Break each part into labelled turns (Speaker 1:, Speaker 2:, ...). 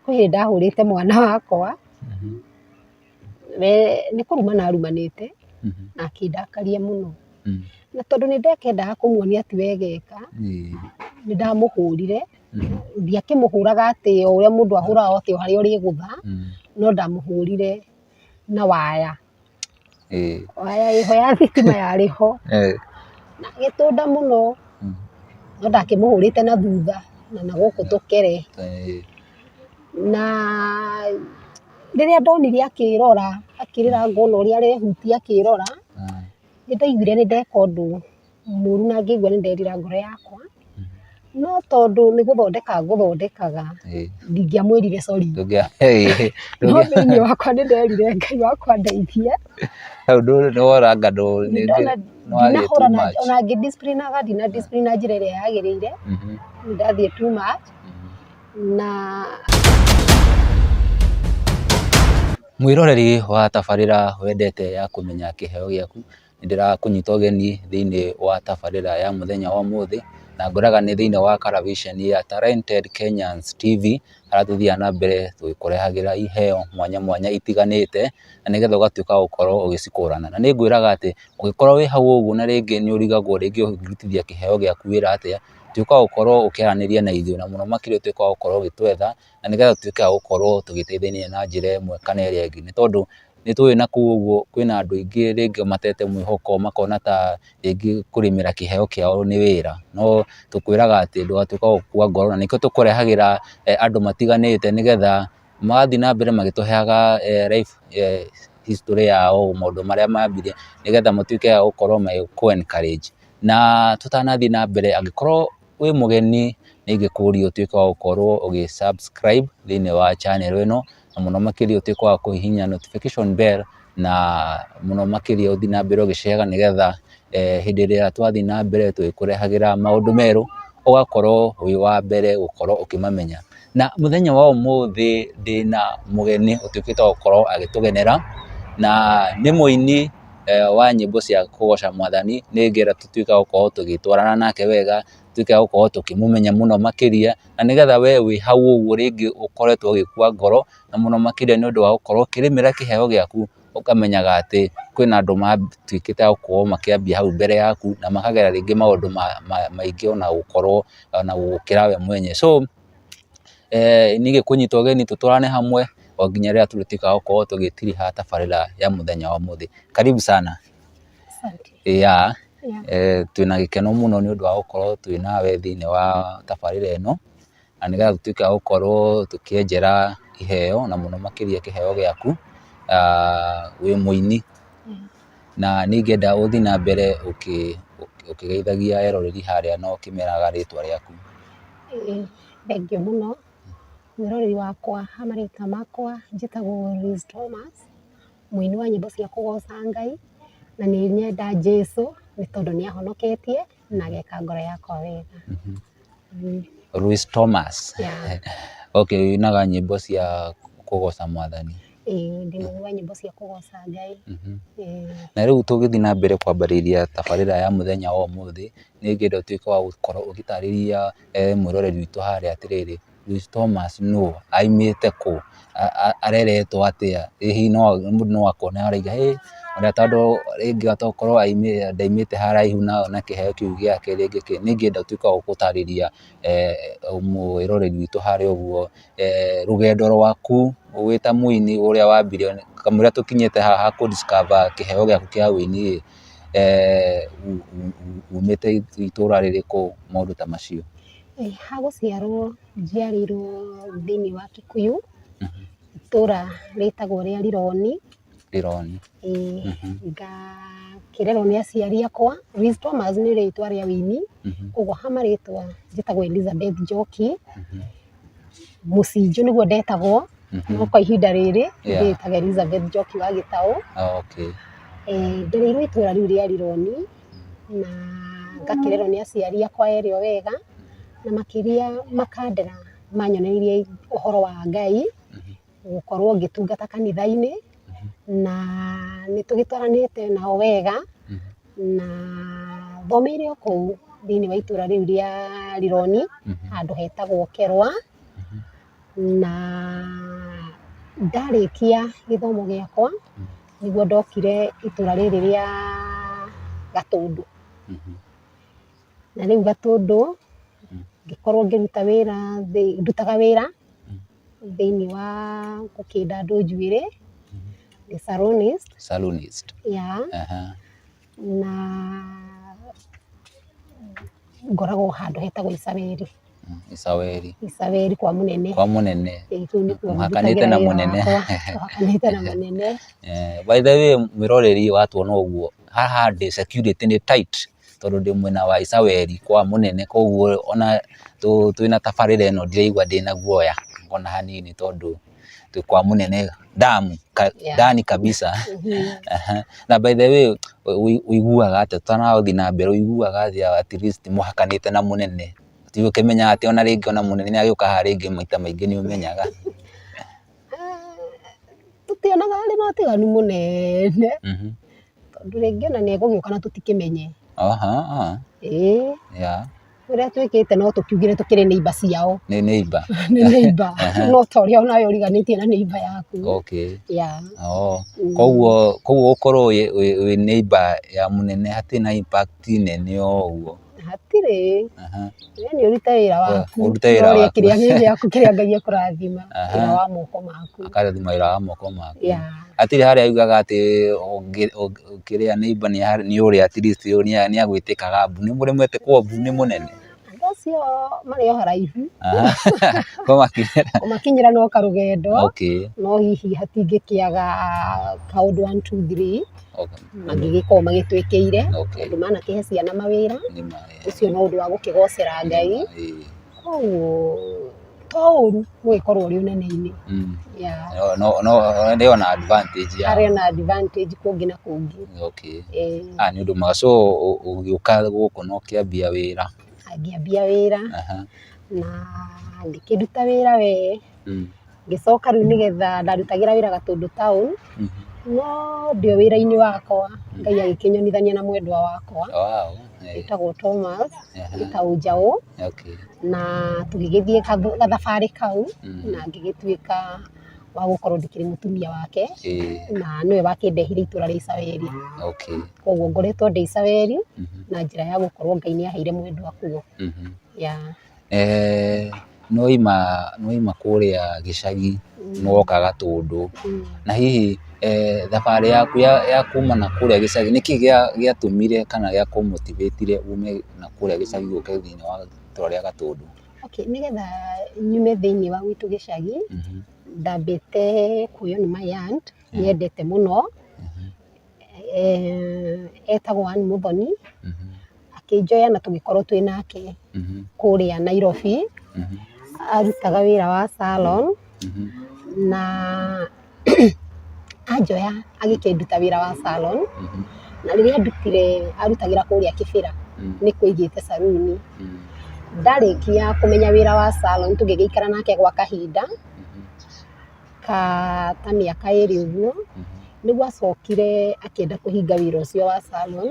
Speaker 1: Kwĩ hĩndĩ ndahũrĩte mwana wakwa, we nĩ kũrumana arumanĩte na akĩndakaria mũno. Na tondũ nĩ ndakendaga kũmuonia atĩ wega eka, nĩ ndamũhũrire, ndiakĩmũhũraga atĩ o ũrĩa mũndũ ahũraga atĩ harĩa ũrĩgũtha, no ndamũhũrire na waya. waya ĩ ho ya thitima yarĩ ho, na agĩtũnda mũno, no ndakĩmũhũrĩte na thutha na na gũkũ tũkĩrĩ, na rĩrĩa ndonire akĩrora akĩrĩra ngona ũrĩa arehutia akĩrora, nĩ ndaiguire nĩ ndeka ũndũ. mũru na ngĩigua nĩ nderira ngoro yakwa, no tondũ nĩ gũthondeka ngũthondekaga, ndingĩamwĩrire sorry. No thĩiniĩ wakwa nĩ nderire Ngai wakwa ndeithia. Ona ngĩ discipline aga ndina discipline na njĩra ĩrĩa yagĩrĩire, nĩ ndathiĩ too much na.
Speaker 2: Mwĩroreri wa tabarĩra wendete ya kũmenya kĩheo gĩaku. nĩ ndĩrakũnyita ũgeni thĩinĩ wa tabarĩra ya mũthenya wa ũmũthĩ, na ngwĩraga nĩ thĩinĩ wa karabiceni ya Talented Kenyans TV, harĩa tũthiaga na mbere tũgĩkũrehagĩra iheo mwanya mwanya itiganĩte, na nĩgetha ũgatuĩka wa gũkorwo ũgĩcikũrana. Na nĩ ngwĩraga atĩ, ũngĩkorwo wĩ hau ũguo na rĩngĩ nĩ ũrigagwo rĩngĩ ũngĩrutithia kĩheo gĩaku wĩra atĩa, tuĩka wa gũkorwo ũkĩaranĩria na ithuĩ, na mũno makĩria ũtuĩke wa gũkorwo ũgĩtwetha. na nĩgetha tũtuĩke a gũkorwo tũgĩteithania na njĩra ĩmwe kana ĩrĩa ĩngĩ. Nĩ tondũ nĩ tũĩ na kũu ũguo kwĩna andũ aingĩ rĩngĩ matete mwĩhoko makona ta rĩngĩ kũrĩmĩra kĩheo kĩao nĩ wĩra. No tũkwĩraga atĩ ndũgatuĩke wa gũkua ngoro na nĩkĩo tũkũrehagĩra andũ matiganĩte nĩgetha magathiĩ na mbere magĩtũheaga life history yao, maũndũ marĩa mambirie nĩgetha matuĩke a gũkorwo magĩkũ encourage. Na tũtanathiĩ na mbere angĩkorwo... wĩ mũgeni nĩ ingĩkũria ũtuĩke wa gũkorwo ũgĩ subscribe thĩinĩ wa channel ĩno, na mũno makĩria ũtuĩke wa kũhihinya notification bell, na mũno makĩria ũthiĩ na mbere ũgĩceeraga nĩgetha hĩndĩ ĩrĩa twathiĩ na mbere tũgĩkũrehagĩra maũndũ merũ, ũgakorwo wĩ wa mbere gũkorwo ũkĩmamenya. Na mũthenya wa ũmũthĩ ndĩna mũgeni ũtuĩkĩte wa gũkorwo agĩtũgenera, na nĩ mũini. wa nyĩmbo cia kũgoca mwathani, nĩgetha tũtuĩke a gũkorwo tũgĩtwarana nake wega, tũtuĩke a gũkorwo tũkĩmũmenya mũno makĩria, na nĩgetha we wĩ hau ũguo rĩngĩ ũkoretwo ũgĩkua ngoro, na mũno makĩria nĩ ũndũ wa gũkorwo ũkĩrĩmĩra kĩheo gĩaku, ũkamenyaga atĩ kwĩna andũ matuĩkĩte a gũkorwo makĩambia hau mbere yaku, na makagera rĩngĩ maũndũ maingĩ ona gũkorwo ona gũgũkĩra we mwene. So nĩgetha kũnyita ũgeni tũtwarane hamwe o nginya rĩrĩa tũrĩtuĩka a gũkorwo tũgĩtiriha tabarĩra ya mũthenya wa ũmũthĩ. Karibu sana. Twĩna gĩkeno mũno nĩ ũndũ wa gũkorwo twĩ nawe thĩiniĩ wa tabarĩra ĩno, na nĩgetha tũtuĩke a gũkorwo tũkĩenjera iheo na mũno makĩria kĩheo gĩaku wĩ mũini. na nĩ ingĩenda ũthiĩ na mbere ũkĩgeithagia eroreri harĩa na ũkĩmeraga rĩtwa rĩaku. Ĩĩ
Speaker 1: thengiũ mũno, mwĩroreri wakwa ha marĩtwa makwa njĩtagwo Rose Thomas, mũini wa nyĩmbo cia kũgoca Ngai, na nĩ nyenda Jesũ nĩ tondũ nĩ ahonoketie. na ageka
Speaker 2: ngoro yakwa wega. Luis Thomas. Okay, ũinaga nyĩmbo cia kũgoca mwathani? Ĩĩ, ndĩinaga
Speaker 1: nyĩmbo cia kũgoca Ngai.
Speaker 2: Na rĩu tũgĩthiĩ na mbere kwambĩrĩria tabarĩra ya mũthenya wa ũmũthĩ, nĩ ingĩenda ũtuĩke wa gũkorwo ũgĩtarĩria mwĩroreri witũ harĩa atĩrĩrĩ, Luis Thomas nũ? Aimĩte kũ? Areretwo atĩa? Ĩ hihi mũndũ no akona arauga ĩ ona tondũ rĩngĩ tokorwo ndaimĩte haraihu na kĩheo kĩu gĩake rĩngĩ kĩ, nĩ ingĩenda ũtuĩke wa gũtarĩria mwĩroreri witũ harĩa ũguo rũgendo rwaku wĩ ta mũini ũrĩa wambire, kamũira tũkinyĩte haha kũ discover kĩheo gĩaku kĩa ũini ĩ, umĩte itũra rĩrĩkũ, maũndũ ta macio. Ha
Speaker 1: gũciarwo njiarĩirwo thĩinĩ wa Kikuyu, itũra rĩtagwo rĩa Rironi. Rironi. Ĩĩ. Ngakĩrerwo nĩ aciari akwa. Liz Thomas nĩ rĩtwa rĩa ũini, koguo ha marĩtwa njĩtagwo Elizabeth Njoki. Mũcinjũ nĩguo ndetagwo, no kwa ihinda rĩrĩ ndĩĩtaga Elizabeth Njoki wa Gĩtaũ. Ndereirwo itũra rĩu rĩa Rironi. na ngakĩrerwo nĩ aciari akwa erĩ o wega, na makĩria makandera manyonereirie ũhoro wa Ngai, gũkorwo ngĩtungata kanitha-inĩ, na nĩ tũgĩtwaranĩte nao wega, na thomeire o kũu thĩiniĩ wa itũũra rĩu rĩa Rironi, handũ hetagwo Kerwa, na ndarĩkia gĩthomo gĩakwa nĩguo ndokire itũra rĩrĩ rĩa Gatũndũ. Na rĩu Gatũndũ ngĩkorwo ngĩruta wĩra, ndutaga wĩra thĩinĩ wa gũkĩnda andũ njuĩrĩ, ndĩ salonist. Salonist. Yeah. na ngoragwo handũ hetagwo Isareri. Isaweri. Isareri kwa mũnene. Kwa mũnene. Ĩĩ, kũu nĩkuo
Speaker 2: Mũhakanĩte na ndutagĩra wĩra mũnene. wakwa. Tũhakanĩte na mũnene. Eh, by the way mwĩroreri watuona ũguo haha ndĩ security nĩ tight tondũ ndĩ mwena wa Isaweri kwa mũnene koguo ona tũ- twĩna tabarĩra ĩno ndiraigua ndĩna guoya ona hanini tondũ kwa munene damu ka, Yeah. ndani kabisa Mhm. Aha. na by the way ũi- ũiguaga atĩ tũtanathiĩ na mbere ũiguaga atĩa at least mũhakanĩte na mũnene tiga ũkĩmenyaga atĩ ona rĩngĩ ona mũnene nĩ agĩũka haha rĩngĩ maita maingĩ nĩ ũmenyaga
Speaker 1: tũtionaga arĩ na ũtiganu mũnene Mhm. Tondũ rĩngĩ ona nĩegũgĩũka na tũtikĩmenye. Ĩĩ. Ũrĩa twĩkĩte no tũkiugire tũkĩrĩ neighbour ciao. Nĩ neighbour. Nĩ
Speaker 2: neighbour.
Speaker 1: No ta ũrĩa onawe ũriganĩtie na neighbour yaku. Okay. Yeah. Oo.
Speaker 2: Kũguo kũguo gũkorwo wĩ wĩ neighbour ya mũnene hatirĩ na impact nene ũguo. Hatirĩ,
Speaker 1: Aha. we nĩ ũrute wĩra We, waku. ũrute wĩra Ũrore waku. kĩrĩa gĩ gĩaku kĩrĩa Ngai ekũrathima, Aha. wĩra wa moko maku. Akarathima wĩra wa moko
Speaker 2: maku. Yeah. Hatirĩ harĩa augaga atĩ ũngĩ- ũngĩ- ũkĩrĩa neighbor nĩ harĩ- nĩ ũrĩa at least ũyũ nĩ a- nĩ agwĩtĩkaga mbu. Nĩ mũremete kuohwo mbu nĩ mũnene. Andũ acio
Speaker 1: marĩ o haraihu, Aha. Kwa makinyĩra.
Speaker 2: ũmakinyĩra no karũgendo,
Speaker 1: Okay. no hihi hatingĩkĩaga kaũndũ one, two, three. Okay. mangĩgĩkorwo magĩtwĩkĩire Okay. tondũ manakĩhe ciana mawĩra Nĩ ma- eh, ũcio no ũndũ wa gũkĩgocera ngai eh, koguo to ũru gũgĩkorwo ũrĩ ũnene-inĩ mm. Yeah. No- no- no-
Speaker 2: nĩ ona advantage ya harĩ na advantage
Speaker 1: kũngĩ na kũngĩ okay Eh, ah nĩ
Speaker 2: ũndũ mwega so ũ- ũgĩũka gũkũ no kĩambia wĩra angĩambia wĩra
Speaker 1: aha na ngĩkĩruta wĩra wee ngĩcoka rĩu nĩgetha ndarutagĩra wĩra Gatũndũ town, no ndĩ o wĩra-inĩ wakwa Ngai agĩkĩnyonithania na mwendwa wakwa wĩtagwo Thomas gĩtaũ njaũ na tũgĩgĩthiĩ gathabarĩ kau na ngĩgĩtuĩka wa gũkorwo ndĩkĩrĩ mũtumia wake na nĩwe wakĩndehire itũra rĩa Icaweri. Koguo ngoretwo ndĩ Icaweri na njĩra ya gũkorwo Ngai nĩ aheire mwendwa kuo. Eeh
Speaker 2: nĩ waima nĩ waima kũrĩa gĩcagi nĩ woka Gatũndũ, na hihi thabarĩ yaku ya kuma na kũrĩa gĩcagi nĩkĩ gĩatũmire kana gĩa kũ motivate -ire ume na kũrĩa gĩcagi ũke thĩiniĩ wa itũra rĩa Gatũndũ? Okay nĩgetha
Speaker 1: nyume thĩiniĩ wa gwitũ gĩcagi, ndambĩte kuoywo nĩ my aunt nyendete mũno. etagwo Ann Mũthoni, akĩnjoya na tũgĩkorwo twĩ nake kũrĩa Nairobi, arutaga wĩra wa salon, na anjoya agĩkĩnduta wĩra wa salon, na rĩrĩa andutire arutagĩra kũrĩa Kĩbĩra, nĩ kuo aigĩte saruni, ndarĩkia kũmenya wĩra wa salon tũgĩgĩikara nake gwa kahinda. ka ta mĩaka ĩrĩ ũguo, nĩguo acokire akĩenda kũhinga wĩra ũcio wa salon,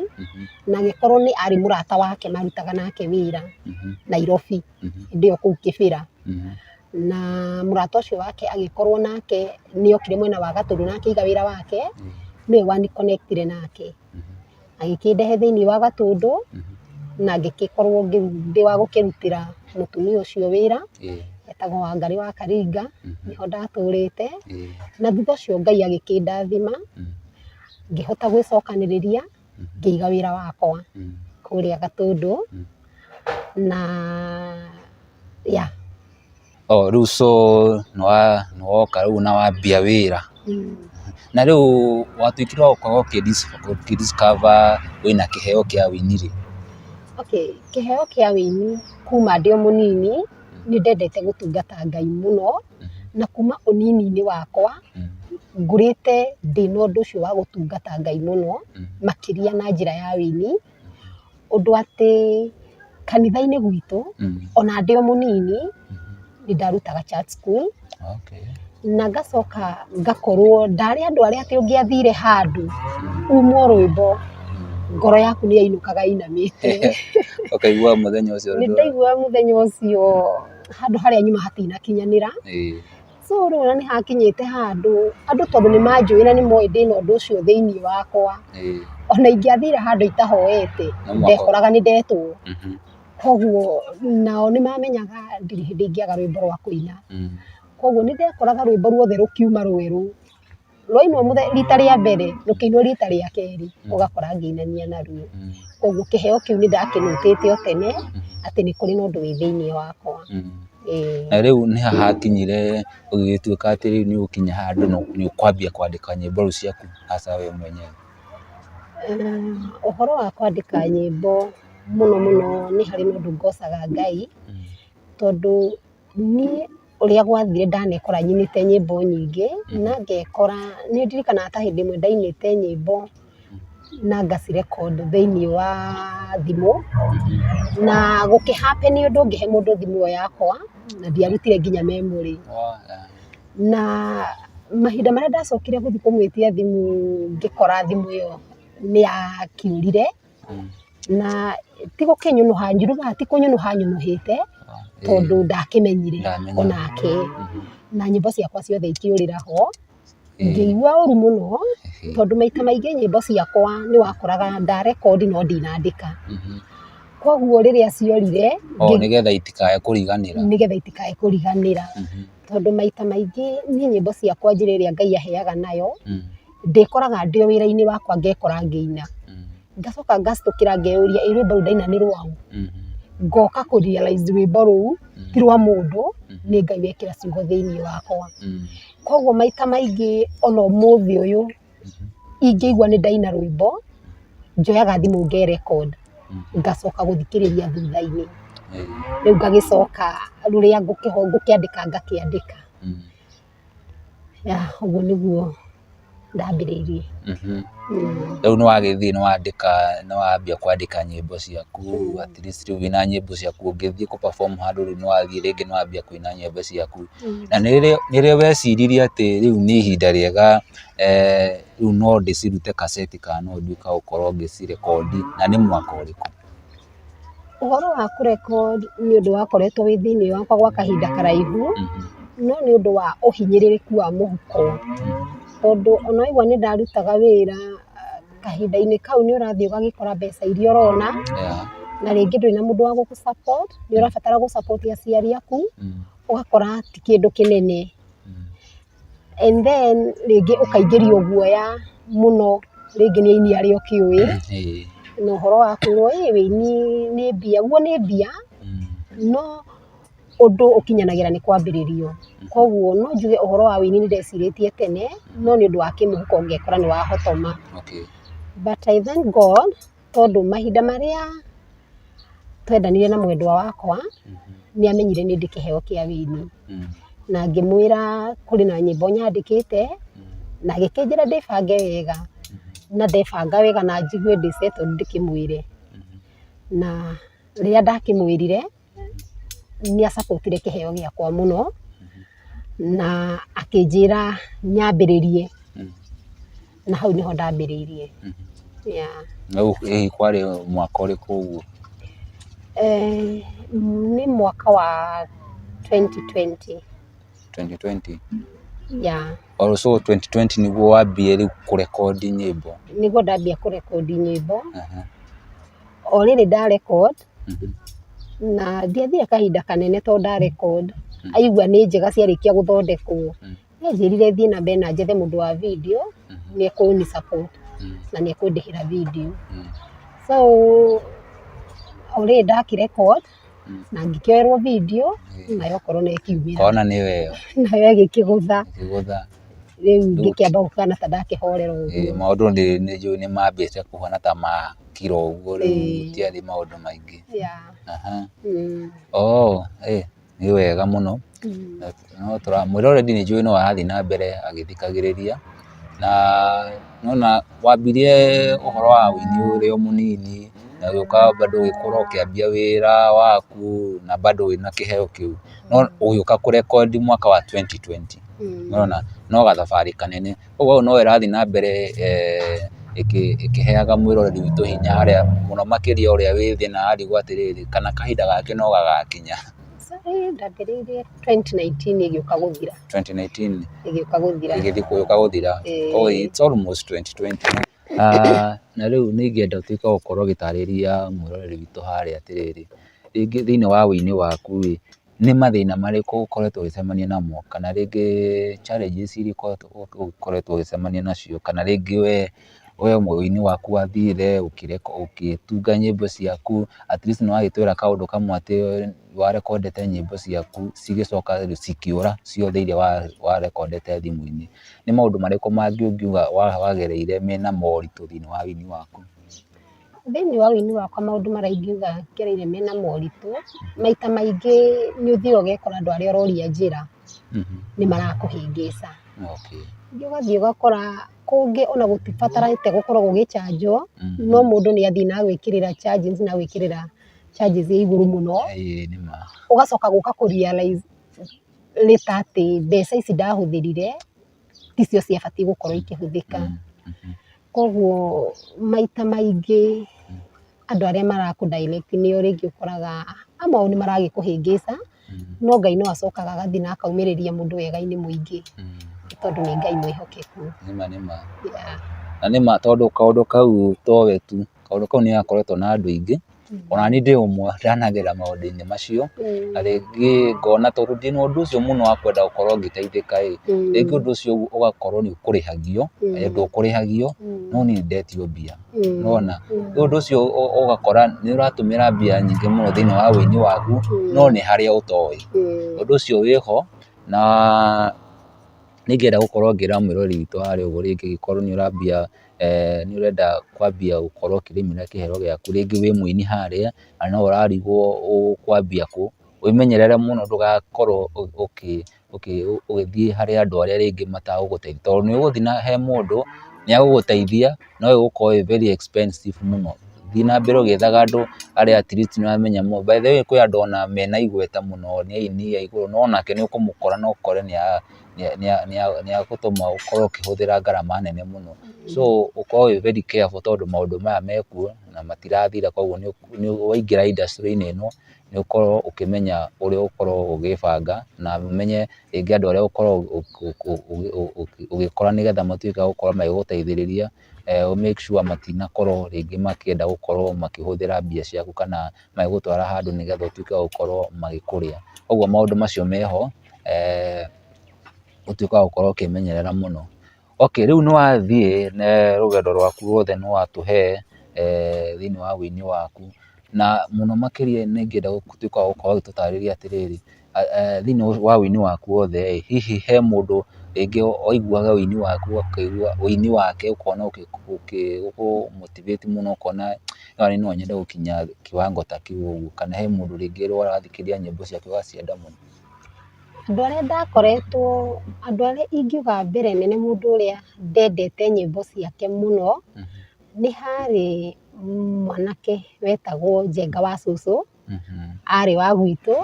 Speaker 1: na agĩkorwo nĩ arĩ mũrata wake marutaga nake wĩra Nairobi, hĩndĩ ĩyo kũu Kĩbĩra. Na mũrata ũcio wake agĩkorwo nake nĩ okire mwena wa Gatũndũ na akĩiga wĩra wake, nĩwe wa ni connect ire nake. agĩkĩndehe thĩinĩ wa gatũndũ na ngĩgĩkorwo ndĩ wa gũkĩrutĩra mũtumia ũcio wĩra, etagwo Wangarĩ wa Karinga, nĩho ndatũrĩte, na thutha ũcio Ngai agĩkĩndathima, ngĩhota gwĩcokanĩrĩria, ngĩiga wĩra wakwa kũrĩa gatũndũ, na yeah.
Speaker 2: Oh, rĩu so nĩ wa- nĩ woka rĩu na wambia wĩra na rĩu watuĩkire wa gũkorwo ũkĩdis- ũkĩdiscover wĩna kĩheo kĩa wĩini rĩ Okay,
Speaker 1: kĩheo kĩa wĩini kuma ndĩ o mũnini nĩ ndendete gũtungata Ngai mũno na kuma ũnini-inĩ wakwa Mm. ngũrĩte ndĩna ũndũ ũcio wa gũtungata Ngai mũno Mm. makĩria na njĩra ya wĩini. ũndũ atĩ kanitha-inĩ gwitũ ona ndĩ o mũnini nĩ ndarutaga church school na ngacoka ngakorwo ndarĩ andũ arĩa atĩ ũngĩathire handũ umwo rwĩmbo ngoro yaku nĩ yainũkaga ĩinamĩte. Ũkaiguaga mũthenya ũcio.
Speaker 2: Nĩ ndaiguaga
Speaker 1: mũthenya ũcio handũ harĩa nyuma hatinakinyanĩra. So rĩu ona nĩ hakinyĩte handũ andũ tondũ nĩ manjũĩ na nĩ moĩ ndĩna ũndũ ũcio thĩinĩ wakwa, ona ingĩathire handũ itahoete, ndekoraga nĩ ndetwo. Kwoguo nao nĩ mamenyaga ndirĩ hĩndĩ ingĩaga rwĩmbo rwa kũina. Kwoguo nĩ ndekoraga rwĩmbo ruothe rũkiuma rwerũ. rwainwo rita rĩa mbere rũkĩinwo rita rĩa kerĩ ũgakora ngĩinania naruo. Koguo kĩheo kĩu nĩ ndakĩrutĩte o tene atĩ nĩ kũrĩ na ũndũ wĩ thĩinĩ wakwa. Na
Speaker 2: rĩu nĩ ha hakinyire ũgĩgĩtuĩka atĩ rĩu nĩ ũgũkinya handũ nĩ ũkwambia kwandĩka nyĩmbo rĩu ciaku hasa we mwenyewe?
Speaker 1: Ũhoro wa kwandĩka nyĩmbo mũno mũno nĩ harĩ na ũndũ ngocaga Ngai tondũ Niĩ ũrĩa gwathire ndanekora nyinĩte nyĩmbo nyingĩ na ngekora, nĩ ndirikanaga ta hĩndĩ ĩmwe ndainĩte nyĩmbo na nga ci record thĩinĩ wa thimũ, na gũkĩ happen ũndũ ngĩhe mũndũ thimũ ĩyo yakwa na ndiarutire nginya memory. Na mahinda marĩa ndacokire gũthiĩ kũmwĩtia thimũ ngĩkora thimũ ĩyo nĩ ya kĩũrire. na ti gũkĩnyũnũha nyũnũhaga ti kũnyũnũha nyũnũhĩte tondũ ndakĩmenyire onake, na nyĩmbo ciakwa ciothe ikĩũrĩra ho, ngĩigua ũru mũno tondũ maita maingĩ nyĩmbo ciakwa nĩ wakoraga nda record no ndinandĩka, kwoguo rĩrĩa ciorire, nĩgetha itikae
Speaker 2: kũriganĩra, tondũ
Speaker 1: maita maingĩ niĩ nyĩmbo ciakwa njĩra ĩrĩa Ngai aheaga nayo, ndĩkoraga ndĩ o wĩra-inĩ wakwa ngekora ngĩina. Ngacoka ngacitũkĩra ngeyũria ĩ rwĩmbo rũu ndaina nĩ rwaũ? Ngoka kũ realise rwĩmbo rũu ti rwa mũndũ, nĩ Ngai wekĩra ciugo thĩiniĩ wakwa. Kwoguo maita maingĩ o na ũmũthĩ ũyũ, ingĩigua nĩ ndaina rwĩmbo, njoyaga thimũ nge record, ngacoka gũthikĩrĩria thutha-inĩ. Rĩu ngagĩcoka rũrĩa ngũkĩandĩka ngakĩandĩka. Yeah ũguo nĩguo ndambĩrĩirie.
Speaker 2: Rĩu nĩ wagĩthiĩ nĩ wandĩka nĩ wambia kwandĩka nyĩmbo ciaku at least rĩu wĩna nyĩmbo ciaku ũngĩthiĩ kũ perform handũ rĩu nĩ wathiĩ rĩngĩ nĩ wambia kũina nyĩmbo ciaku. Na nĩ rĩ weciririe atĩ rĩu nĩ ihinda rĩega rĩu no ndĩcirute kaseti kana no nduĩke wa gũkorwo ngĩci record na nĩ mwaka ũrĩkũ?
Speaker 1: Ũhoro wa kũrekwo nĩ ũndũ wakoretwo wĩ thĩinĩ wakwa gwa kahinda karaihu, no nĩ ũndũ wa ũhinyĩrĩrĩku wa mũhuko. Tondũ o na waigua nĩ ndarutaga wĩra, kahinda-inĩ kau nĩ ũrathiĩ ũgagĩkora mbeca iria ũrona, na rĩngĩ ndũrĩ na mũndũ wa gũgũ support, nĩ ũrabatara gũ support aciari aku, ũgakora ti kĩndũ kĩnene. and then rĩngĩ ũkaingĩrio guoya mũno rĩngĩ nĩ aini arĩa ũkĩũĩ, na ũhoro wa kwĩrwo ĩ wĩini nĩ mbia, guo nĩ mbia no ũndũ ũkinyanagĩra nĩ kwambĩrĩrio, koguo no njuge ũhoro wa wĩini nĩ ndecirĩtie tene no nĩ ũndũ wa kĩmũhuko ngekora nĩ wahotoma, but I thank God. tondũ mahinda marĩa twendanire na mwendwa wakwa, nĩ amenyire nĩ ndĩ kĩheo kĩa wĩini. Na ngĩmwĩra kũrĩ na nyĩmbo nyandĩkĩte, na agĩkĩnjĩra ndĩbange wega. Na ndebanga wega na njigue ndĩ settled ndĩkĩmwĩre. Na rĩrĩa ndakĩmwĩrire, nĩ a support ire kĩheo gĩakwa mũno, na akĩnjĩra nyambĩrĩrie, na hau nĩho ndambĩrĩirie.
Speaker 2: Kwarĩ mwaka ũrĩkũ ũguo?
Speaker 1: Nĩ mwaka wa twenty twenty. Twenty twenty? So twenty twenty
Speaker 2: nĩguo wambia rĩu kũrekondi nyĩmbo? Nĩguo ndambia
Speaker 1: kũrekondi nyĩmbo. o rĩrĩ nda record na ndiathire kahinda kanene tondũ nda record aigua nĩ njega ciarĩkia gũthondekwo, nĩ anjĩrire thiĩ na mbere na njethe mũndũ wa video nĩ ekũni support na nĩ ekũndĩhĩra video. So o rĩrĩ ndakĩ record na ngĩkerwo video nayo okorwo nĩ ĩkiumĩra Kona nĩ weyo.
Speaker 2: nayo ĩgĩkĩgũtha
Speaker 1: Ĩkĩgũtha. rĩu ngĩkĩamba gũkana ta ndakĩhorera Ĩĩ, ũguo maũndũ nĩ nĩ njũĩ
Speaker 2: nĩ mambĩte kũhana ta ma kiro ũguo rĩu Ĩĩ. gũtiarĩ maũndũ maingĩ. Yeah. Aha. Mm. Oh, ĩĩ, nĩ wega mũno. Mm. No tũramwĩra already nĩ njũĩ no arathiĩ na mbere agĩthikagĩrĩria, na nĩ wona wambirie ũhoro wa ũini ũrĩ o mũnini, na ũgĩũka bado ũgĩkũra ũkĩambia wĩra waku na bado wĩna kĩheo kĩu, no ũgĩũka kũrekondi mwaka wa twenty twenty, nĩ wona, no gathabarĩ kanene, ũguo hau no ĩrathiĩ na mbere ĩkĩheaga mwĩroreri witũ hinya harĩa mũno makĩria ũrĩa wĩ thĩ na arigwo atĩrĩrĩ, kana kahinda gake no gagakinya.
Speaker 1: ndambĩrĩirie
Speaker 2: 2019 ĩgĩũka
Speaker 1: gũthira 2019 ĩgĩũka gũthira ĩgĩthiĩ
Speaker 2: kũgĩũka gũthira Eh. oh, it's almost 2020 Ah, na rĩu nĩ ingĩenda ũtuĩke wa gũkorwo ũgĩtarĩria mwĩroreri witũ harĩa atĩrĩrĩ rĩngĩ thĩinĩ wa ũini waku rĩ nĩ mathĩna marĩkũ ũkoretwo ũgĩcemania namo kana rĩngĩ challenges iria ikoretwo- ũkoretwo ũgĩcemania nacio kana rĩngĩ we we ũgĩ-inĩ waku wathirire, ũgĩtunga nyĩmbo ciaku, at least nĩ wagĩtwĩra kaũndũ kamwe atĩ wa recorded nyĩmbo ciaku cigĩcoka cikĩũra ciothe iria wa recorded thimũ-inĩ. Nĩ maũndũ marĩkũ mangĩ ũngiuga wagereire mena moritũ thĩinĩ wa ũgĩ-inĩ waku? Thĩinĩ
Speaker 1: wa ũgĩ-inĩ wakwa maũndũ marĩa ingiuga ngereire mena moritũ, maita maingĩ nĩ ũthiaga ũgekora andũ arĩa ũroria njĩra nĩ marakũhĩngĩca. Rĩngĩ ũgathiĩ ũgakora... Kũngĩ ona gũtibatarĩte gũkorwo gũgĩcanjwo, no mũndũ nĩ athiĩ na agwĩkĩrĩra charges na agwĩkĩrĩra charges ĩ igũrũ mũno, ũgacoka gũka kũ realise later atĩ mbeca ici ndahũthĩrire ticio ciabatiĩ gũkorwo ikĩhũthĩka. Koguo maita maingĩ andũ arĩa marakũ direct nĩo rĩngĩ ũkoraga amwe ao nĩ marakũhĩngĩca no Ngai no acokaga agathiĩ na akaumĩrĩria mũndũ wega-inĩ mũingĩ nĩ tondũ nĩ Ngai mwĩhokeku. Nĩma nĩma. Yeah.
Speaker 2: Na nĩma tondũ kaũndũ kau to we tu, kaũndũ kau nĩ gakoretwo na andũ aingĩ, ona niĩ ndĩ ũmwe ndanagerera maũndũ-inĩ macio, Mm. na rĩngĩ ngona tondũ ndĩ na ũndũ ũcio mũno wa kwenda gũkorwo ngĩteithĩka ĩ, Mm. rĩngĩ ũndũ ũcio ũgakorwo nĩ ũkũrĩhagio, Mm. na hĩndĩ ndũkũrĩhagio, Mm. no niĩ nĩ ndetio mbia. nĩwona, rĩu ũndũ ũcio ũgakora nĩ ũratũmĩra mbia nyingĩ mũno thĩinĩ wa ũini waku no nĩ harĩa ũtoĩ, ũndũ ũcio wĩ ho na nĩ ingĩenda gũkorwo ngĩra mwĩrori witũ wa harĩa ũguo rĩngĩ korwo nĩ ũrambia, nĩ ũrenda kwambia gũkorwo ũkĩrĩmĩra kĩheo gĩaku rĩngĩ wĩ mũini harĩa na no ũrarigwo ũkwambia kũ, wĩmenyerere mũno ndũgakorwo ũgĩthiĩ harĩ andũ arĩa rĩngĩ matagũgũteithia, tondũ nĩ ũgũthiĩ na he mũndũ nĩ agũgũteithia no ĩgũkorwo ĩ very expensive mũno. Thiĩ na mbere ũgĩethaga andũ arĩa at least nĩ ũramenya mũndũ. By the way kwĩ andũ ona mena igweta mũno nĩ aini a igũrũ no onake nĩ ũkũmũkora na ũkore nĩ agũtũma ũkorwo ũkĩhũthĩra ngarama nene mũno. So ũkorwo wĩ very careful tondũ maũndũ maya mekuo na matirathira koguo waingĩra industry-inĩ ĩno... nĩ ũkorwo ũkĩmenya ũrĩa ũgũkorwo ũgĩĩbanga na ũmenye rĩngĩ andũ arĩa ũgũkorwo ũgĩkora nĩgetha matuĩke a gũkorwo magĩgũteithĩrĩria, ũ make sure matinakorwo rĩngĩ makĩenda gũkorwo makĩhũthĩra mbia ciaku kana magĩgũtwara handũ nĩgetha ũtuĩke wa gũkorwo magĩkũrĩa. Kũguo maũndũ macio meho, ũtuĩke wa gũkorwo ũkĩĩmenyerera mũno. Okay, rĩu nĩ wathiĩ rũgendo rwaku rwothe nĩ watũhe thĩinĩ wa ũini waku, na mũno makĩria nĩ ingĩenda ũtuĩke wa gũkorwo ũgĩtũtarĩria atĩrĩrĩ, thĩinĩ wa ũini waku wothe ĩ, hihi he mũndũ rĩngĩ waiguaga ũini waku ũkaigua ũini wake ũkona ũgĩkũ motivate mũno ũkona aya nĩ no nyende gũkinya kĩwango ta kĩu ũguo, kana he mũndũ rĩngĩ ũrathikĩrĩria nyĩmbo ciake ũgacienda mũno? Andũ
Speaker 1: arĩa ndakoretwo, andũ arĩa ingiuga a mbere nĩ mũndũ ũrĩa ndendete nyĩmbo ciake mũno, nĩ harĩ mwanake wetagwo Njenga wa cũcũ, arĩ wa gwitũ,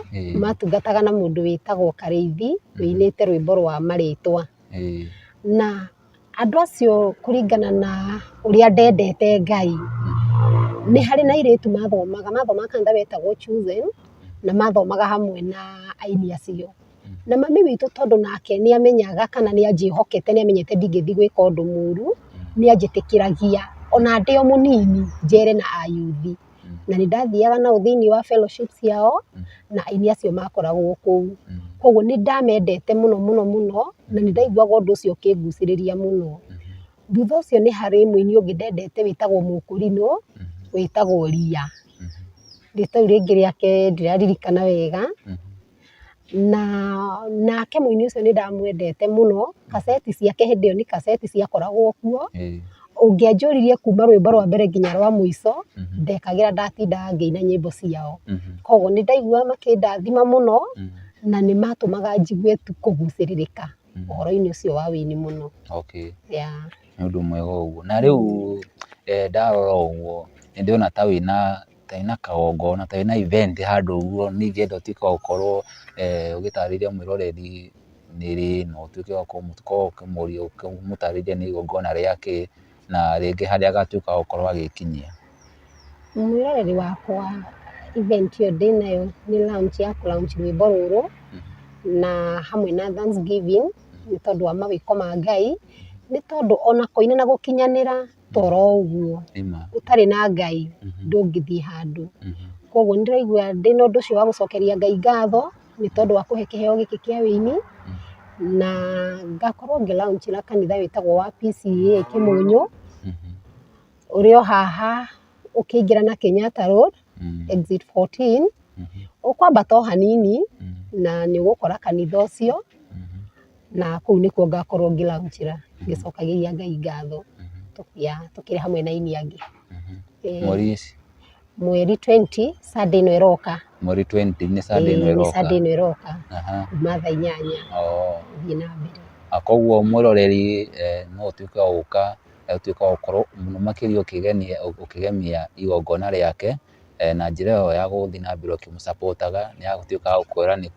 Speaker 1: matungataga na mũndũ wĩtagwo Karĩithi, wĩinĩte rwĩmbo rwa marĩtwa. Na Andũ acio kũringana na ũrĩa ndendete Ngai, nĩ harĩ na airĩtu mathomaga, mathomaga kanitha wetagwo Choosen, na mathomaga hamwe na aini acio. Na mami witũ tondũ nake nĩ amenyaga kana nĩ anjĩhokete, nĩ amenyete ndingĩthiĩ gwĩka ũndũ mũru, nĩ anjĩtĩkĩragia ona ndĩ o mũnini njere na ayuthi. na nĩ ndathiaga nao thĩinĩ wa fellowship ciao na aini acio makoragwo kũu. Kwoguo nĩ ndamendete mũno mũno mũno na nĩ ndaiguaga ũndũ ũcio ũkĩngucĩrĩria mũno. Thutha ũcio nĩ harĩ mũini ũngĩ ndendete wĩtagwo Mũkũrinũ wĩtagwo Ria. Rĩĩtwa rĩu rĩngĩ rĩake ndiraririkana wega. na nake mũini ũcio nĩ ndamwendete mũno, kaseti ciake hĩndĩ ĩyo nĩ kaseti ciakoragwo kuo, ũngĩanjũririe kuuma rwĩmbo rwa mbere nginya rwa mũico, ndekagĩra ndatindaga ngĩina nyĩmbo ciao. Kwoguo nĩ ndaiguaga makĩndathima mũno, na nĩ matũmaga njigue tu kũgucĩrĩrĩka ũhoro-inĩ ũcio wa ũini mũno. Okay. Yeah.
Speaker 2: Nĩ ũndũ mwega ũguo. Na rĩu ndarora ũguo, nĩ ndĩrona ta wĩna... ta ĩna kagongona, ta ĩna event handũ ũguo, niĩ ingĩenda ũtuĩke wa gũkorwo ũgĩtarĩria mwĩroreri nĩ rĩ, na ũtuĩke wa gũkorwo ũkĩmũria, ũkĩmũtarĩria nĩ igongona rĩa kĩ, na rĩngĩ harĩa agatuĩka wa gũkorwo
Speaker 1: agĩkinyia.
Speaker 2: Mwĩroreri wakwa event
Speaker 1: ĩyo ndĩnayo nĩ launch ya kũ launch rwĩmbo rũrũ, na hamwe na Thanksgiving nĩ tondũ wa mawĩko ma Ngai, nĩ tondũ ona kũina na gũkinyanĩra. toro o ũguo, ũtarĩ na Ngai ndũngĩthiĩ handũ. Kwoguo nĩ ndĩraigua ndĩ na ũndũ ũcio wa gũcokeria Ngai ngatho nĩ tondũ wa kũhe kĩheo gĩkĩ kĩa ũini, na ngakorwo ngĩ launch na kanitha wĩtagwo wa PCEA Kĩmũnyũ, ũrĩ o haha ũkĩingĩra na Kenyatta Road, Exit 14. Ũkwambata o hanini na nĩ ũgũkora kanitha ũcio, na kũu nĩkuo ngakorwo ngĩ launch ĩra ngĩcokagĩria Ngai ngatho ya tũkĩrĩ hamwe na aini angĩ. Ĩĩ. Mweri ici? Mweri twenty, Sunday ĩno ĩroka. Mweri twenty, nĩ
Speaker 2: Sunday ĩno Ĩĩ, nĩ ĩroka? Sunday ĩno ĩroka,
Speaker 1: Aha. kuuma thaa inyanya Oo. gũthiĩ na mbere. Na kũguo mwĩroreri
Speaker 2: eh, no ũtuĩke wa gũka, ũtuĩke wa gũkorwo mũno makĩria ũkĩgenia, ũkĩgemia igongona rĩake. na njĩra ĩyo ya gũthiĩ na mbere ũkĩmũ support aga, nĩ agũtuĩka wa gũkwĩra nĩ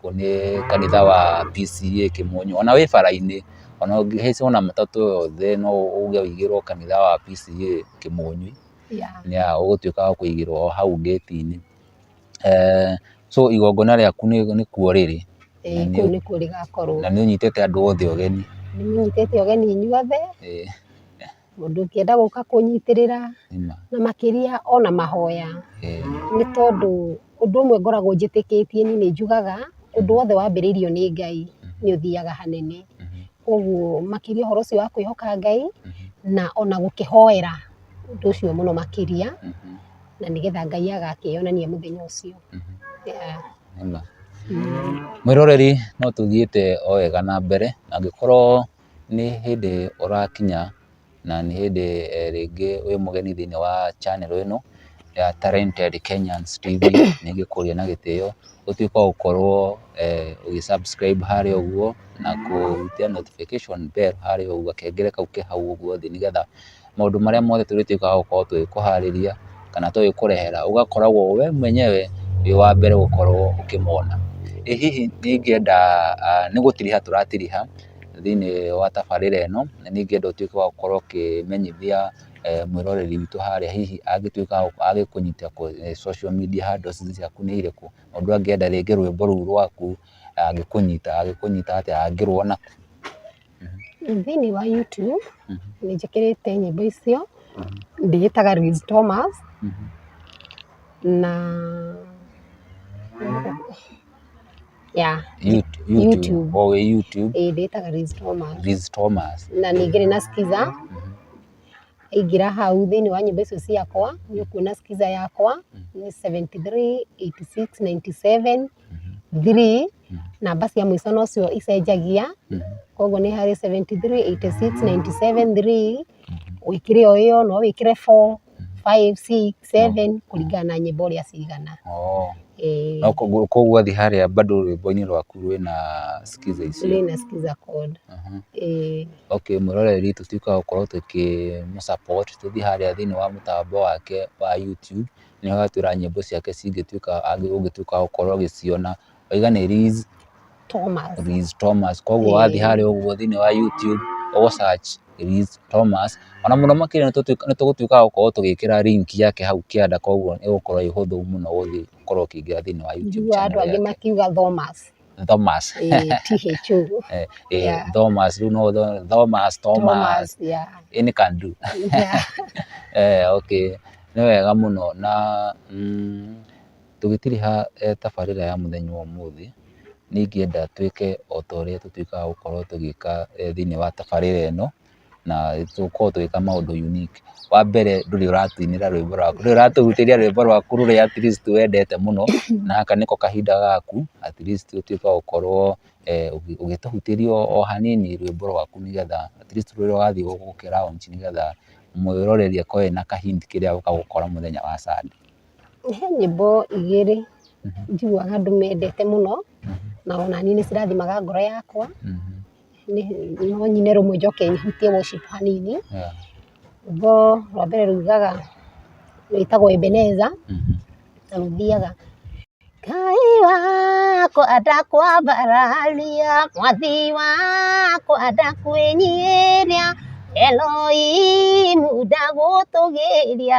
Speaker 2: kanitha wa PCEA Kĩmũnyu, ona wĩ bara-inĩ, ona ũngĩhaica ona matatũ o yothe no uge ũigĩrwo kanitha wa PCEA Kĩmũnyu, ũgũtuĩka wa kũigĩrwo o hau ngĩti-inĩ. So igongona rĩaku nĩ kuo rĩrĩ,
Speaker 1: na nĩ ũnyitĩte andũ
Speaker 2: othe ũgeni? Nĩ nyitĩte
Speaker 1: ũgeni inyuothe. mũndũ ũngĩenda gũka kũnyitĩrĩra, na makĩria ona mahoya, nĩ tondũ ũndũ ũmwe ngoragwo njĩtĩkĩtie niĩ nĩ njugaga, ũndũ wothe wambĩrĩirio nĩ Ngai nĩ ũthiaga hanene, koguo makĩria ũhoro ũcio wa kwĩhoka Ngai, na ona gũkĩhoera ũndũ ũcio mũno makĩria, na nĩgetha Ngai agakĩyonania mũthenya ũcio.
Speaker 2: Mwĩroreri no tũthiĩte o wega na mbere, angĩkorwo... nĩ hĩndĩ ũrakinya na nĩ hĩndĩ rĩngĩ wĩ mũgeni thĩinĩ wa channel ĩno ya Talented Kenyans TV, nĩ ngĩkũria na gĩtĩo ũtuĩke wa gũkorwo ũgĩ subscribe harĩa ũguo na kũhutia notification bell harĩa ũguo, gakengere kau ke hau ũguo thĩ nĩgetha maũndũ marĩa mothe tũrĩtuĩka a gũkorwo tũgĩkũharĩria kana tũgĩkũrehera ũgakoragwo we mwenyewe wĩ wa mbere gũkorwo ũkĩmona. Ĩ hihi nĩ ingĩenda, nĩ gũtiriha tũratiriha thĩinĩ wa tabarĩra ĩno na nĩ ingĩenda ũtuĩke wa gũkorwo ũkĩmenyithia mwĩroreri witũ harĩa hihi angĩtuĩka wa gũkũnyita kũrĩa social media handles ciaku nĩ irĩkũ? Mũndũ angĩenda rĩngĩ rwĩmbo rũu rwaku angĩkũnyita, angĩkũnyita atĩa, angĩrũona kũ?
Speaker 1: Thĩinĩ wa YouTube nĩ njĩkĩrĩte nyĩmbo icio, ndĩĩtaga Luis Thomas na yeah YouTube. O wĩ YouTube, ĩĩ
Speaker 2: ndĩĩtaga Luis Thomas
Speaker 1: Liz Thomas.
Speaker 2: na ningĩ ndĩ na Skiza.
Speaker 1: Ingĩra hau thĩinĩ wa nyĩmbo icio ciakwa, nĩ ũkuona skiza yakwa nĩ seventy three, eighty six, ninety seven, three, namba cia mũico no cio icenjagia, kwoguo nĩ harĩ seventy three, eighty six, ninety seven, three, wĩkĩre o ĩyo, no wĩkĩre four, five, six. seven kũringana na nyĩmbo ũrĩa cigana. Oo. Ĩĩ.
Speaker 2: Na koguo koguo athiĩ harĩa bado rwĩmbo-inĩ rwaku rwĩna skiza icio. Rwĩna skiza chord.
Speaker 1: Aha. Ĩĩ.
Speaker 2: Okay, mwĩroreri tũtuĩke a gũkorwo tũkĩ mũ support, tũthiĩ harĩa thĩiniĩ wa mũtambo wake wa YouTube, nĩ ho atwĩra nyĩmbo ciake cingĩtuĩka ũngĩtuĩka wa gũkorwo ũgĩciona waiga nĩ Liz Thomas.
Speaker 1: Liz Thomas
Speaker 2: koguo wathiĩ Eh. harĩa ũguo thĩinĩ wa YouTube ũgũ search Liz Thomas ona mũno makĩria nĩ tũtuĩka- nĩ tũgũtuĩka a gũkorwo tũgĩkĩra link yake hau kĩanda koguo nĩ ũgũkorwo ĩĩ ũhũthũ mũno gũthiĩ gũkorwo ũkĩingĩra thĩinĩ wa YouTube Njiguaga andũ channel angĩ yake. makiuga
Speaker 1: Thomas. Thomas Eh,
Speaker 2: THO.
Speaker 1: Eh, eh, Yeah.
Speaker 2: Thomas rĩu no tho- Thomas Thomas Thomas, yeah. any can do Yeah. eh, okay nĩ wega mũno na mm, Tũgĩtiriha tabarĩra ya mũthenya wa ũmũthĩ, nĩ ingĩenda twĩke o ta ũrĩa tũtuĩkaga gũkorwo tũgĩka thĩiniĩ wa tabarĩra ĩno, na tũkorwo tũgĩka maũndũ unique. Wa mbere ndũrĩ ũratũinĩra rwĩmbo rwaku, ndũrĩ ũratũhunjĩria rwĩmbo rwaku rũrĩa at least wendete mũno, na gaka nĩko kahinda gaku at least ũtuĩke wa gũkorwo ũgĩtũhunjĩria o hanini rwĩmbo rwaku nĩ getha at least rũrĩa ũrathiĩ gũkĩ launch nĩ getha mwĩroreri akorwo ena ka hint kĩrĩa egũka gũkora mũthenya wa Sunday. He nyĩmbo
Speaker 1: igĩrĩ njiguaga ndĩmendete mũno na o na niĩ nĩ cirathimaga ngoro yakwa, no nyine rũmwe njoke hutie worship hanini. Rwĩmbo rwa mbere rugaga, rwĩtagwo Ebeneza na rũthiaga, Ngai wakwa ndakwambararia, mwathi wakwa ndakwĩnyihĩria, Eloimu ndagũtũgĩria,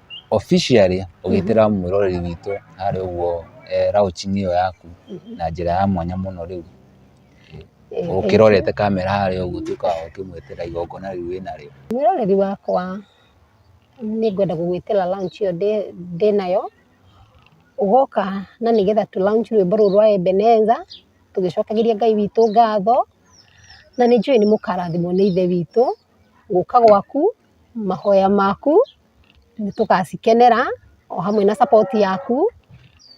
Speaker 2: officially ũgĩtĩra mwĩroreri witũ harĩa ũguo launch-inĩ ĩyo yaku na njĩra ya mwanya mũno rĩu, ũkĩrorete kamera harĩa ũguo ũtuĩke wa kũmwĩtĩra igongona rĩu wĩ narĩo. Mwĩroreri wakwa
Speaker 3: nĩ ngwenda gũgwĩtĩra launch ĩyo ndĩ nayo, ũgoka na nĩgetha tũ launch rwĩmbo rũu rwa Ebenezer tũgĩcokagĩria Ngai witũ ngatho, na nĩ njũĩ nĩ mũkarathimwo nĩ Ithe witũ gũka gwaku, mahoya maku. nĩtũgacikenera o hamwe na support yaku,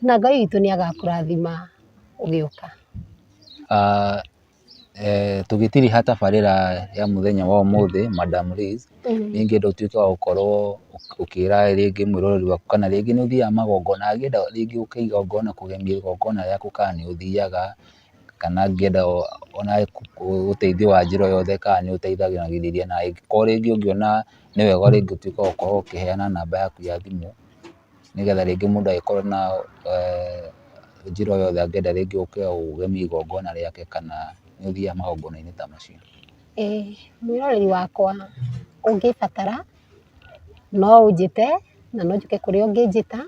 Speaker 3: na Ngai witũ nĩ agakũrathima ũgĩũka.
Speaker 2: Tũgĩtiriha tabarĩra ya mũthenya wa ũmũthĩ, Madam Liz, nĩ ingĩenda ũtuĩke wa gũkorwo ũkĩra rĩngĩ mwĩroreri waku kana rĩngĩ nĩ ũthiaga magongona angĩenda rĩngĩ ũke igongona kũgemia igongona rĩaku kana nĩ ũthiaga. kana angĩenda ona ũteithio wa njĩra o yothe kana nĩ ũteithagĩrĩria na angĩkorwo rĩngĩ ũngĩona nĩ wega rĩngĩ ũtuĩke wa gũkorwo ũkĩheana namba yaku ya thimũ nĩ getha rĩngĩ mũndũ angĩkorwo na njĩra o yothe angĩenda rĩngĩ ũke ũgemie igongona rĩake kana nĩ ũthiaga magongona-inĩ ta macio? ĩĩ,
Speaker 3: mwĩroreri wakwa ũngĩbatara no ũnjĩte na no njũke kũrĩa ũngĩnjĩta,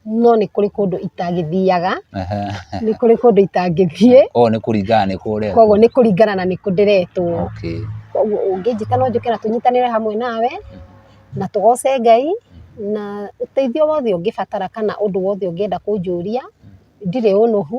Speaker 3: no nĩ kũrĩ kũndũ itangĩthiaga, nĩ kũrĩ kũndũ itangĩthiĩ. Koguo nĩ kũringana na
Speaker 2: nĩkũ ũretwo. Koguo nĩ kũringana na
Speaker 3: nĩkũ ndĩretwo. Okay. Koguo
Speaker 2: ũngĩnjĩta
Speaker 3: no njũke na tũnyitanĩre hamwe nawe, na tũgoce Ngai, na ũteithio wothe ũngĩbatara kana ũndũ wothe ũngĩenda kũnjũria, ndirĩ ũnuhu,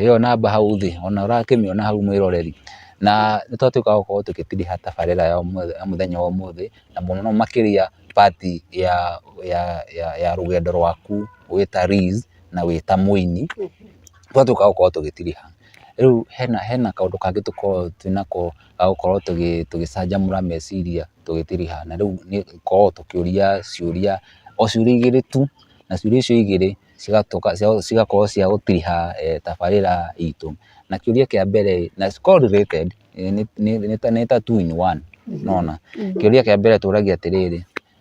Speaker 2: Ĩyo namba hau thĩ ona ũrakĩmĩona hau mwĩroreri, na nĩ twatuĩka a gũkorwo tũgĩtiriha tabarĩra ya mũthenya wa ũmũthĩ na mũno makĩria part ya rũgendo rwaku wĩ ta Liz na wĩ ta mũini, twatuĩka a gũkorwo tũgĩtiriha. Rĩu hena kaũndũ kangĩ tũkoragwo twĩnako ga gũkorwo tũgĩcanjamũra meciria tũgĩtiriha, na rĩu nĩ gũkoragwo tũkĩũria ciũria o ciũria igĩrĩ tu, na ciũria icio igĩrĩ cigatuĩka cigakorwo cia gũtiriha tabarĩra itũ. Na kĩũria kĩa mbere ĩĩ, na cikoragwo related, nĩ ta two in one, nĩ wona. Kĩũria kĩa mbere tũragia atĩrĩrĩ,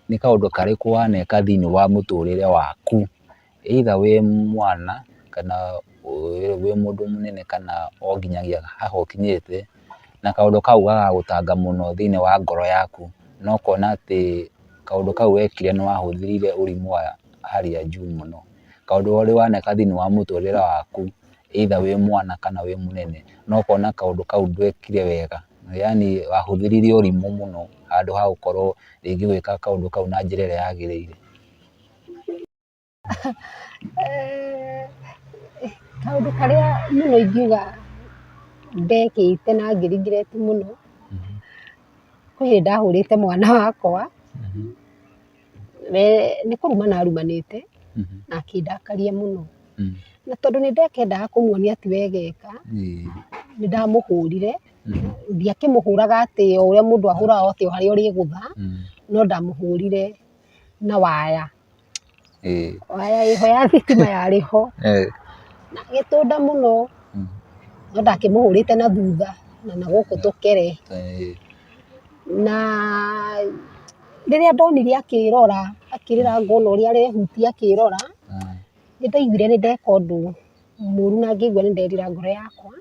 Speaker 2: nĩ kaũndũ karĩkũ waneka thĩinĩ wa mũtũrĩre waku, either wĩ mwana, kana wĩ mũndũ mũnene kana o nginyagia haha ũkinyĩte, na kaũndũ kau gagagũtanga mũno thĩinĩ wa ngoro yaku, na ũkona atĩ kaũndũ kau wekire nĩ wahũthĩrĩire ũrimũ wa. hali ya juu mũno. Kaũndũ ũrĩ waneka thĩinĩ wa mũtũrĩre waku either wĩ mwana kana wĩ mũnene, na ũkona kaũndũ kau ndwekire wega, yaani wahũthĩrire ũrimũ mũno handũ ha gũkorwo rĩngĩ ũgĩka kaũndũ kau na njĩra ĩrĩa yagĩrĩire.
Speaker 3: Kaũndũ karĩa mũno ingiuga ndekĩte na ngĩ regret mũno, kwĩ hĩndĩ ndahũrĩte mwana wakwa, we nĩ kũrumana arumanĩte na akĩndakaria mũno. Na tondũ nĩ ndakendaga kũmuonia ti wega eka, nĩ ndamũhũrire, ndiakĩmũhũraga atĩ o ũrĩa mũndũ ahũraga atĩ o harĩa ũrĩgũtha, no ndamũhũrire na waya. Waya ĩho ya thitima yarĩ ho. Na agĩtũnda mũno, no ndakĩmũhũrĩte na thutha na na gũkũ tũkere. na rĩrĩa ndonire akĩrora akĩrĩra ngona ũrĩa arehutia akĩrora, nĩ ndaiguire nĩ ndeka ũndũ mũru na ngĩigua nĩ nderira ngoro yakwa,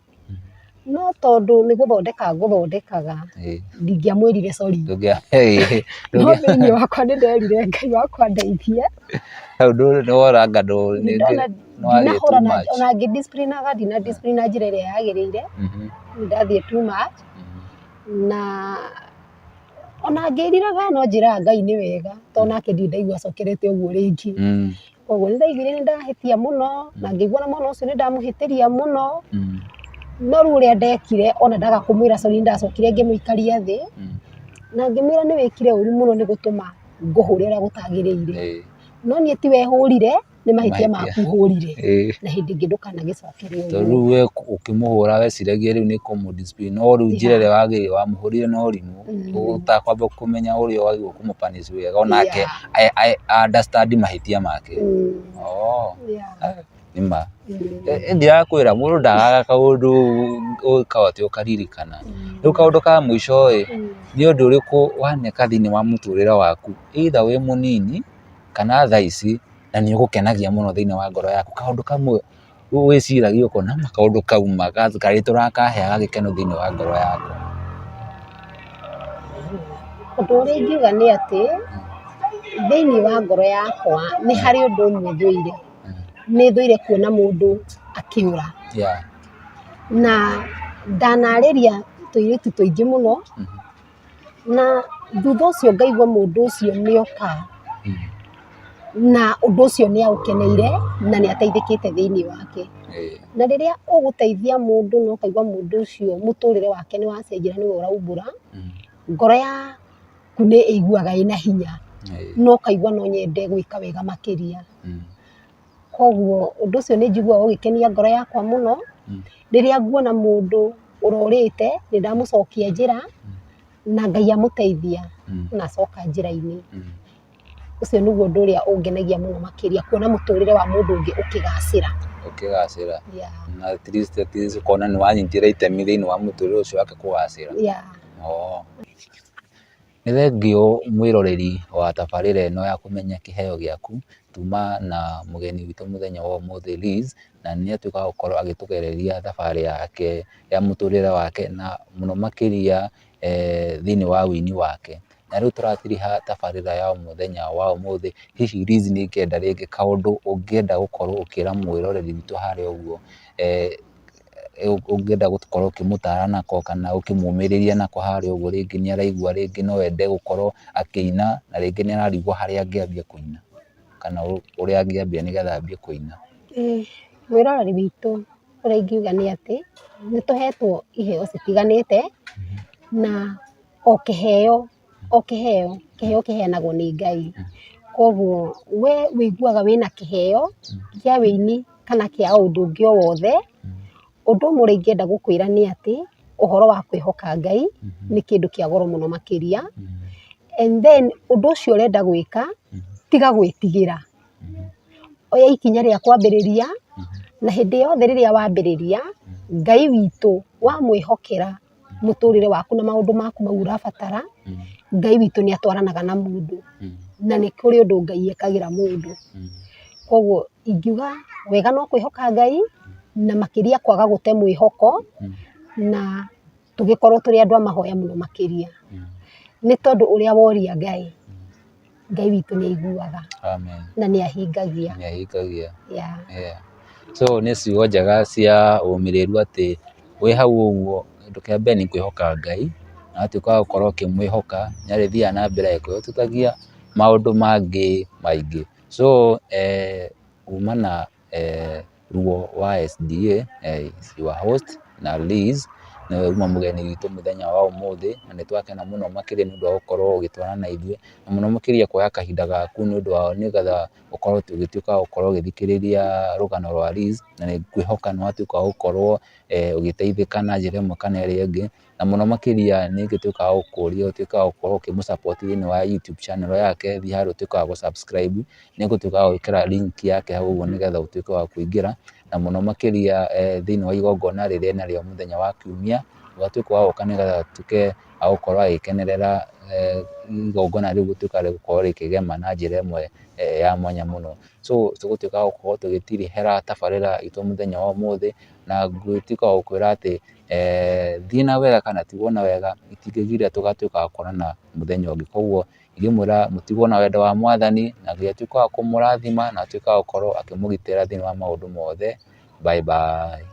Speaker 3: no tondũ nĩ gũthondeka ngũthondekaga, ndingĩamwĩrire sorry, no thĩinĩ wakwa nĩ nderire Ngai wakwa ndeithia,
Speaker 2: ona
Speaker 3: ngĩ discipline aga ndina discipline na njĩra ĩrĩa yagĩrĩire, nĩ ndathiĩ too much. na ona angĩriraga no njĩraga Ngai nĩ wega tondũ nake ndirĩ ndaigua acokerete ũguo rĩngĩ. Koguo nĩ ndaiguire nĩ ndahĩtia mũno na ngĩiguaga mwana ũcio nĩ ndamũhĩtĩria mũno, no rĩu ũrĩa ndekire ona ndaga kũmwĩra sorry nĩ ndacokire ngĩmũikaria thĩ na
Speaker 1: ngĩmwĩra nĩ wĩkire ũru mũno nĩ gũtũma ngũhũre ũrĩa gũtagĩrĩire. No niĩ ti we hũrire. nĩ mahĩtia maku ũhũrire na hĩndĩ ĩngĩ ndũkanagĩcokere ũguo. Tondũ rĩu we ũkĩmũhũra
Speaker 2: weciragia rĩu nĩ kũmũ discipline no rĩu njĩra ĩrĩa wagĩrĩire wamũhũrire na ũrimũ ũtakwamba kũmenya ũrĩa wagĩrĩirwo kũmũ punish wega onake a understand mahĩtia make. Nĩ ma. Niĩ ndirakwĩra mũndũ ndagaga kaũndũ ũngĩkaga atĩ ũkaririkana. Rĩu kaũndũ ka mũico ĩ, nĩ ũndũ ũrĩkũ waneka thĩinĩ wa mũtũrĩre waku either wĩ mũnini kana thaa ici, na nĩ ũgũkenagia mũno thĩinĩ wa ngoro yaku. Kaũndũ kamwe wĩciragia ũkona ma kaũndũ kau ma karĩtũ ũrakaheaga gĩkeno thĩinĩ wa ngoro yaku.
Speaker 1: Ũndũ ũrĩa ingiuga nĩ atĩ, thĩinĩ wa ngoro yakwa nĩ harĩ ũndũ ũmwe thũire. Nĩ thũire kuona mũndũ akĩũra. Na ndanarĩria tũirĩtu tũingĩ mũno. na thutha ũcio ngaigua mũndũ ũcio nĩ oka, na ũndũ ũcio nĩ aũkeneire na nĩ ateithĩkĩte thĩinĩ wake. Na rĩrĩa ũgũteithia mũndũ na ũkaigua mũndũ ũcio mũtũrĩre wake nĩ wacenjia na nĩwe ũraumbũra, ngoro yaku nĩ ĩiguaga ĩna hinya na ũkaigua no nyende gwĩka wega makĩria. Koguo ũndũ ũcio nĩ njiguaga ũgĩkenia ngoro yakwa mũno, rĩrĩa nguona mũndũ ũrũrĩte, nĩ ndamũcokia njĩra, na Ngai amũteithia, na acoka njĩra-inĩ. Ũcio nĩguo ũndũ ũrĩa ũngenagia mũno makĩria kuona mũtũrĩre wa mũndũ ũngĩ ũkĩgacĩra. Ũkĩgacĩra.
Speaker 2: Yeah. Na at least at least ũkona nĩ wanyitire itemi thĩiniĩ wa mũtũrĩre ũcio wake kũgacĩra. Yeah. Oo. Nĩ thengiũ mwĩroreri wa tabarĩra ĩno ya kũmenya kĩheo gĩaku, tuma na mũgeni witũ mũthenya wa ũmũthĩ Liz, na nĩ atuĩka wa gũkorwo agĩtũgereria thabarĩ yake ya mũtũrĩre wake na mũno makĩria thĩinĩ wa ũini wake. Na rĩu tũratiriha tabarĩra ya mũthenya wa ũmũthĩ, hihi Liz nĩ ngĩenda rĩngĩ kaũndũ ũngĩenda gũkorwo ũkĩra mwĩroreri witũ harĩa ũguo, ũngĩenda gũkorwo ũkĩmũtara nako kana ũkĩmũmĩrĩria nako harĩa ũguo rĩngĩ nĩ araigua rĩngĩ no ende gũkorwo akĩina na rĩngĩ nĩ ararigwo harĩa angĩambia kũina kana ũrĩa angĩambia nĩ getha ambie kũina.
Speaker 1: Mwĩroreri witũ ũrĩa ingiuga nĩ atĩ, nĩ tũhetwo iheo citiganĩte na o kĩheo... o kĩheo, kĩheo kĩheanagwo nĩ Ngai. Kwoguo we ũiguaga wĩna kĩheo kĩa ũini kana kĩa o ũndũ ũngĩ o wothe. Ũndũ ũmwe ũrĩa ingĩenda gũkwĩra nĩ atĩ, ũhoro wa kwĩhoka Ngai nĩ kĩndũ kĩa goro mũno makĩria. And then ũndũ ũcio ũrenda gwĩka, tiga gwĩtigĩra. Oya ikinya rĩa kwambĩrĩria, na hĩndĩ yothe rĩrĩa wambĩrĩria, Ngai witũ wamwĩhokera mũtũrĩre waku na maũndũ maku mau ũrabatara, Ngai witũ nĩ atwaranaga na mũndũ, na nĩ kũrĩ ũndũ Ngai ekagĩra mũndũ. Kwoguo ingiuga wega no kwĩhoka Ngai, na makĩria kwaga gũte mwĩhoko, na tũgĩkorwo tũrĩ andũ a mahoya mũno makĩria. Nĩ tondũ ũrĩa woria Ngai, Ngai witũ nĩ aiguaga Amen. na nĩ ahingagia. Nĩ ahingagia. Yeah. Yeah.
Speaker 2: So nĩ ciugo njega cia ũmĩrĩru atĩ wĩ hau ũguo, kĩndũ kĩa mbere nĩ kwĩhoka Ngai, na watuĩka wa gũkorwo ũkĩmwĩhoka, nĩ arĩthiaga na mbere agĩkũhotithagia maũndũ mangĩ maingĩ. So eh, kumana... ruo wa SDA, is your host na Liz, nĩwe uma mũgeni witũ mũthenya wa ũmũthĩ, na nĩ twakena mũno makĩria nĩ ũndũ wa gũkorwo ũgĩtwarana na ithuĩ, na mũno makĩria kuoya kahinda gaku nĩ ũndũ wa nĩgetha ũkorwo ũgĩtuĩka wa gũkorwo ũgĩthikĩrĩria rũgano rwa Liz, na nĩ ngwĩhoka nĩ watuĩka wa gũkorwo ũgĩteithĩka na njĩra ĩmwe kana ĩrĩa ĩngĩ. na mũno makĩria nĩ ũtuĩkaga wa gũkũria, ũtuĩke wa gũkorwo ũkĩmũ support thĩinĩ wa YouTube channel yake, thiĩ harĩa ũtuĩke wa gũ subscribe, nĩ ngũtuĩka wa gwĩkĩra link yake hau ũguo nĩgetha ũtuĩke wa kũingĩra, na mũno makĩria thĩinĩ wa igongona rĩrĩ e narĩo mũthenya wa kiumia, ũgatuĩka wa gũka nĩgetha atuĩke wa gũkorwo agĩkenerera igongona rĩu gũtuĩka rĩa gũkorwo rĩkĩgema na njĩra ĩmwe ya mwanya mũno. So tũgũtuĩka wa gũkorwo tũgĩtirihĩra tabarĩra itũ mũthenya wa ũmũthĩ. na ngũtuĩka wa gũkwĩra atĩ thiĩ na wega kana tigwo na wega, itingĩgiria tũgatuĩka a kuonana mũthenya ũngĩ. Koguo ingĩmwĩra mũtigwo na wendo wa Mwathani, na Ngai atuĩke wa kũmũrathima na atuĩke wa gũkorwo akĩmũgitĩra thĩinĩ wa maũndũ mothe. Bye bye.